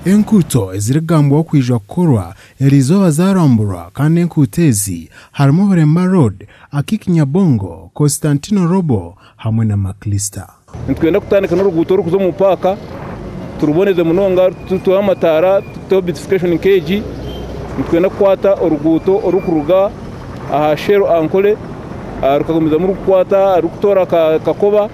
Enkuuto ezirikugambwaho kwija kukorwa eri izooba zaaramburwa kandi enkuuto ezi harimu Bulemba Road, Akik Nyabongo, Constantino Robo hamwe na Maclister. Nitwenda kutandika n'oruguuto orurikuza omu paaka turuboneze munonga, tuteho amataara, tuteho beautification nka egi. Nitwenda kukwata oruguuto orurikuruga aha Shell Ankole rukagumizamu rurikukwata rurikutoora Kakoba.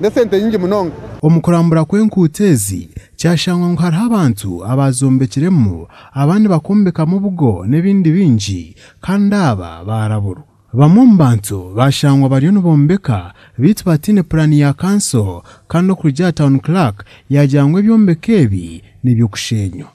n'esente nyingi munonga. Omu kurambura kw'enkuuto ezi, kyashangwa ngu hariho abantu abaazombekiremu, abandi bakombekamu obugo n'ebindi bingi, kandi aba baaraburwa. Bamwe omu bantu baashangwa bariyo nibombeka beitu bataine puraani ya kanso, kandi okurugiirira Town Clerk yaagira ngu ebyombeko ebi n'eby'okusheenywa.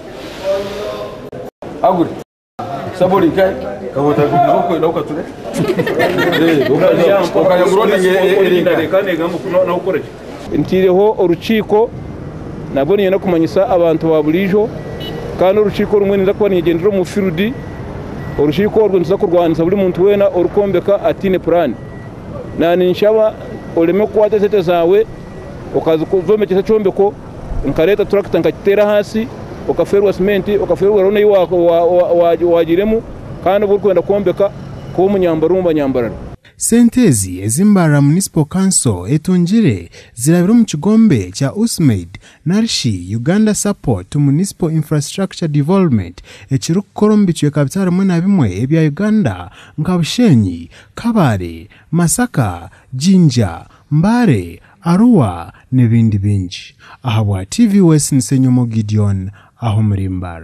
Nteireho orukiiko nabwo niinyenda kumanyisa abantu ba buriijo kandi orukiiko orumwe ninza kuba ninyegyendera omu field. Orukiiko orwo nituza kurwanisa buri muntu weena orikwombeka ataine puraani. Naanye ninshaba oreme kukwata esente zaawe okazombekyesa ekyombeko. Nkareeta turakita nkagiteera ahansi, okafeerwa simenti, okafeerwa eroona ei waagiiremu kandi obu orikwenda kwombeka kuba omunyambarumba nyambarara. Sente ezi ezi Mbarara Municipal Council etungire zirabire omu kigombe kya USMAID narishi Uganda Support to Municipal Infrastructure Development ekirikukora omu bicweka bita bimwe na bimwe ebya Uganda nka Bushenyi, Kabale, Masaka, Jinja, Mbale, Arua n'ebindi bingi. Aha bwa TVOS ni Senyomo Gideon aha omurimbar.